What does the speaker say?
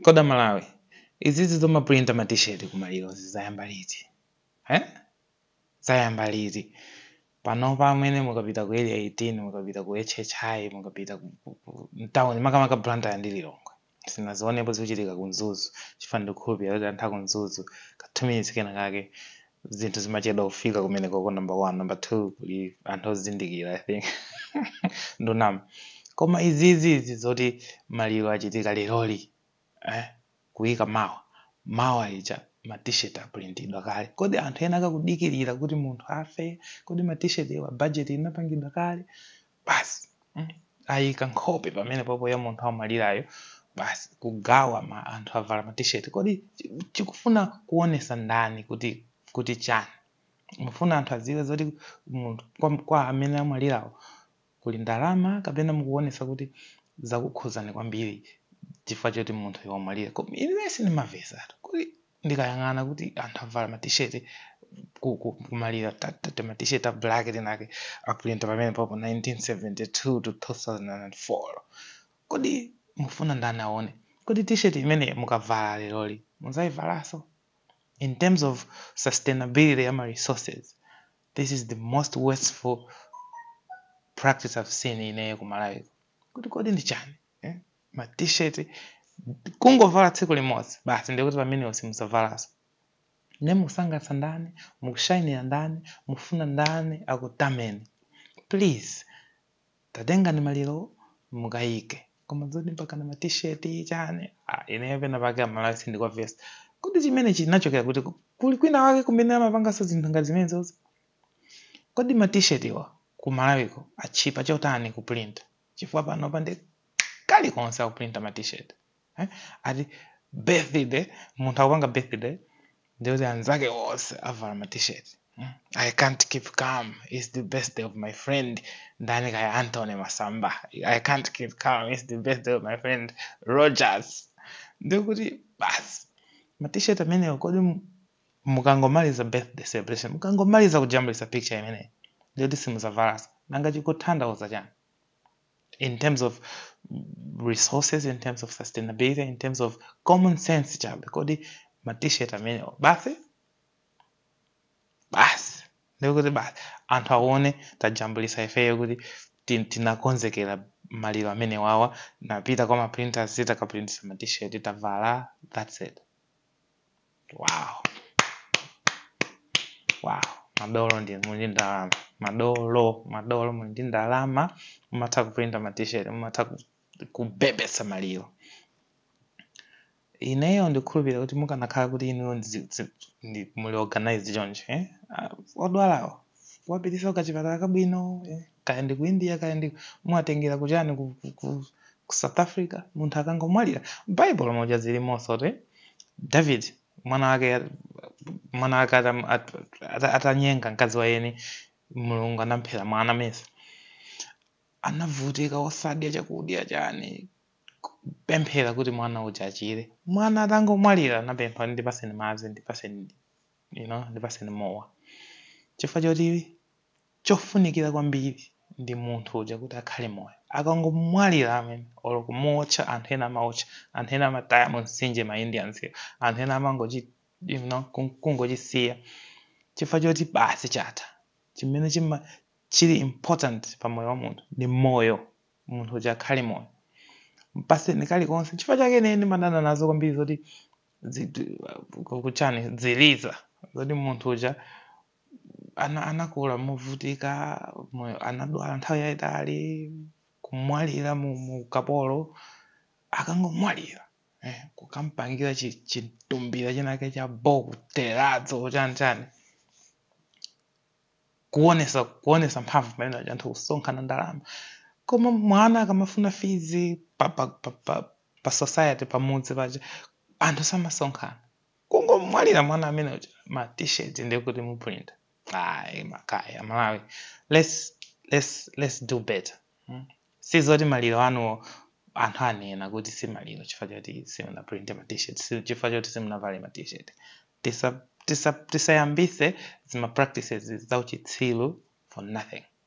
kodi amalawi izizi zoma printa ma t-shirt kumaliro zayamba liti eh? zayamba liti panopa amene mukapita ku area 18 mukapita ku hhi mukapita ku- ku- ku- mtawuni makamaka blantyre ndi lilongwe sinazionepo zikuchitika ku mzuzu chifukwa ndikukhulupirira kuti anthu aku mzuzu ka 2 minutes kena kake zinthu zimachedwa kufika kumenekoko number one number two kuli anthu ozindikira i think ndunama koma izizi izi zoti maliro achitika leroli eh? kuyika mawa mawa ija ma t-shirt aprintidwa kale kodi anthu ena akakudikirira kuti munthu afe kodi ma t-shirt-wa budget inapangidwa kale basi mm, ayika nkhope pamene popo ya munthu amwalirayo basi kugawa ma anthu avala ma t-shirt kodi chi- chikufuna kuonesa ndani kuti kuti chani mufuna anthu adziwe zoti munthu kwa, kwa amene amwalirawo kuli ndalama kapena mukuonesa kuti zakukhuzani kwambiri chifukwa choti munthu wamwalira Koma ine sindimamvetsatu kuti ndikayang'ana kuti anthu avala ma t-shirt ku- ku- kumaliro ta- ta- ta- tima t-shirt ta black tinake aprinta pamene popo 1972 to 2004 kodi mufuna ndani aone kodi t-shirt imene mukavala leroli mudzayivalanso in terms of sustainability ya ma resources this is the most wasteful practice i've seen ineyo ku malawiko kuti kodi ndi chani eh? ma t-shirt kungovala tsiku limodzi basi ndikuti pamenewo simudzavalaso ne mukusangalatsa ndani mukushainira ndani mufuna ndani akutameni please tatengani maliro mukayike koma zoti mpaka na ma t-shirt chani ah, ineyo pena pake amalawi sindikuwamvetsa kodi chimene chinachokera kuti ku- kuli kwinakwake kumene amapanganso zinthu ngati zimenezi kodi ma t-shirt iwa ku malawiko atchipa chotani kuprinta chifukwa panopa nde kalikonse akuprinta ma t-shirt eh? ati birthday munthu akupanga birthday ndikuti anzake onse avala ma t-shirt mm? i can't keep calm its the birthday of my friend ndani kaya anthony masamba i can't keep calm its the birthday of my friend rogers ndikuti basi ma t-shirt amenewo kodi mu- mukangomaliza birthday celebration mukangomaliza kujambulisa picture imeneyi ndikuti simudzavalanso nanga chikutanthauza chani in terms of resources in terms of sustainability in terms of common sense chabe kodi ma t-shirt amenewa basi basi ndikuti basi anthu aone tajambulisa ifeyo kuti tin- tinakonzekera maliro amenewawa tinapita kwa maprinters titakaprintisa ma t-shirt tavala that's it wow wow madolo ndi muli ndi ndalama madolo madolo muli ndi ndalama mumatha kuprinta ma t-shirt mumatha ku- kubebetsa maliro ineyo ndikhulupirira kuti mukanakhala kuti inuyo ndzi- dzi- ndi- muli organized chonchi eh? Ah, odwalawo kuwapitisa kachipatala kabwino eh? kaya ndi ku India kaya ndi kuwatengera kuchani ku, ku, ku, ku South Africa munthu akangomwalira Bible muja zilimoso kuti David mwana wake mwana wake atam- at- at- atanyenga mkazi wa eni Mulungu anamphera mwana mesa anavutika osadya chakudya chani kupemphera kuti mwana uja achire mwana atangomwalira anapempha ndipaseni madzi ndipaseni you know ndipaseni mowa chifukwa choti chofunikira kwambiri ndi munthu uja kuti akhale moyo. Akangomwalira amene, olo kumuotcha, anthu ena amaotcha, anthu ena amataya mumtsinje ma Indians wo, anthu ena amangochi you know ku kungochisiya chifukwa choti basi chatha. Chimene chima chili important pa moyo wa munthu ndi moyo, munthu uja akhale moyo. Mpatseni kalikonse, nchifukwa chake ine ndimadana nazo kwambiri zoti ziti ku- kuchani ziliza zoti munthu uja ana anakula movutika moyo anadwala nthawi yayitali kumwalira mu mu kapolo akangomwalira eh, kukampangira chi- chitumbila chinake cha bo ku terrazzo chani chani kuonesa kuonesa mphamvu pamene aja anthu kusonkhana ndalama koma mwana akamafuna fees pa, pa, pa, pa, pa society pamudzi paja anthu samasonkhana kungomwalira mwana amene uja ma t-shirt ndi kutikuprinta ayi makayi aMalawi let's, let's, let's do better hmm? si zoti maliro anuwo anthu anena kuti si maliro chifukwa choti simunaprinte ma t-shirt si- chifukwa choti simunavale ma t-shirt Tisa- tisa- tisayambise zima practices zauchitsilu for nothing